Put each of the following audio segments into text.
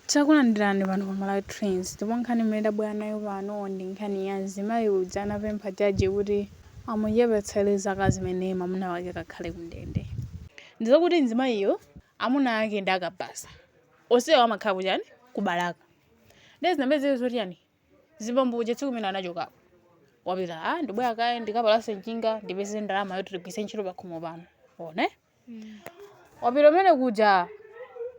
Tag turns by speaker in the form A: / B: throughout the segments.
A: Takulandirani pano pa Malawi Trends ndipo nkhani imene tabwera nayo pano ndi nkhani ya mzimayi uja anapempha jaji kuti amuchepetsere zaka zimene mwamuna wake akakhale kundende. Ndi zakuti mzimayiyo amuna ake ndi akabaza. Onsewo amakhala kuchani? Ku Balaka. Ndiye zinapezeka zoti chani? Zibambo uja tsiku limene anachokapo wapita, ah ndibwera kaye ndikapalase njinga ndipeze ndalama yoti tigwiritse ntchito pakhomo pano. Ona eh? wapita umene kuja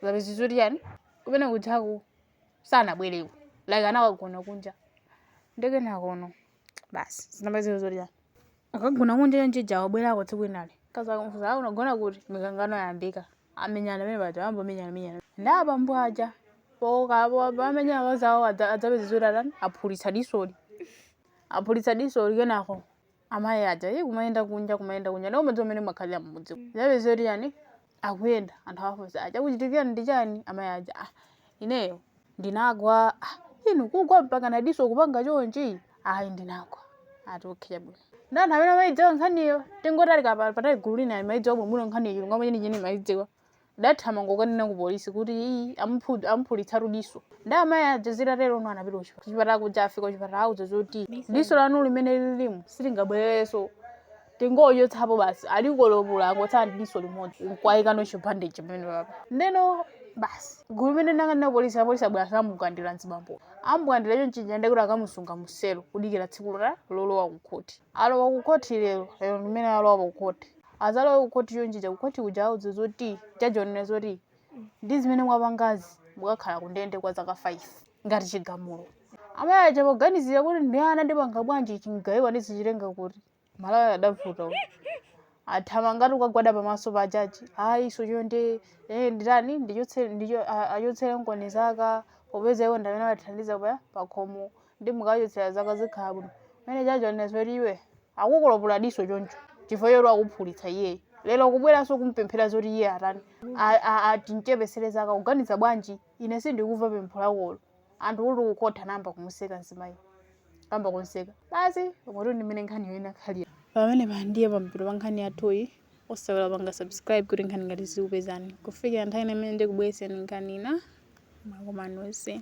A: zapezeka zoti chani kumene kujaku sanabwereko like anakagona kunja ndiye kenakono basi zinapezeka zoti chani akagona kunja chonchija wabwerako tsiku linalo akazi akumfunsa awo unagona kuti mikangano yayambika amenyana pamene paja ayamba kumenyana menyana ndi abambo aja pomenya akazi awo zapezeka zoti atani aphulitsa disoli aphulitsa disoli kenako amayi aja iye kumayenda kunja kumayenda kunja monga mudziwa mmene amakhalira mmudzi zapezeka zoti chani akuyenda anthu awafunsa aa chachitika ndi chani amayi aja ah, ineyo ndinagwa ah, inu kugwa mpaka nadiso kupanga chonchi ayi ndinagwa ati okay bwino ndi anthu amene amayidziwa nkhaniyo tingoti ali kapa- patali gulu lina amayidziwa bwino nkhaniyo chilungamo chenicheni amayidziwa Adathamanga kukanena kupolisi kuti, Iii, amuphulitsatu diso. Ndiye amayi aja zitaterono anapita kuchipatala kuja afika kuchipatala auzidwa zoti diso lanu limene lilimu silingabwererenso. Tingochotsapo basi. Alikolopola angotsala ndi diso limodzi. Nkwayikano chibandage pamenepapa. Ndeno basi gulu limene linakanena kupolisi apolisi abwera amukwidzinga mzibambo. Amukwidzinga chonchija ndiye kuti akamusunga muselo kudikira tsiku lolowa kukhoti. Alowa kukhoti lero, lero ndimene alowa kukhoti. atalowa kukhoti chonchija kukhoti kuja auzidwa zoti jaji wanena zoti ndi zimene mwapangazi mukakhala kundende kwa zaka 5 ngati chigamulo amayi aja poganizira kuti ndi ana ndipanga bwanji chimgaiwa ndizichitenga kuti malawi adavuta uyu. athamanga kukagwada pamaso pa jaji ayi iso chonde eh, nditani ndichotse- ndicho- a- achotsereniko zaka popeza iwo ndamene amathandiza pa pakhomo ndiye mukachotsera zaka zikhala bwino pamene jaji wanena zoti iwe akukolopola diso choncho chifukwa choti wakuphulitsa iyeyo lero kubweranso kumpemphera zoti iye atani A- a- ati ndimchepetsere zaka kuganiza bwanji ine sindikuva pempho lakolo anthu kuti kukhoti nayamba kumuseka mzimayi kuyamba kumseka basi tingoti ndimene nkhaniyo inakhalira pamenepa ndiye pamathero pa nkhani yathuyi osaiwala kupanga subscribe kuti nkhani ngati izi zikupezeni kufikira nthawi ina imene ndikubweretsereni nkhani ina mwakoma nonse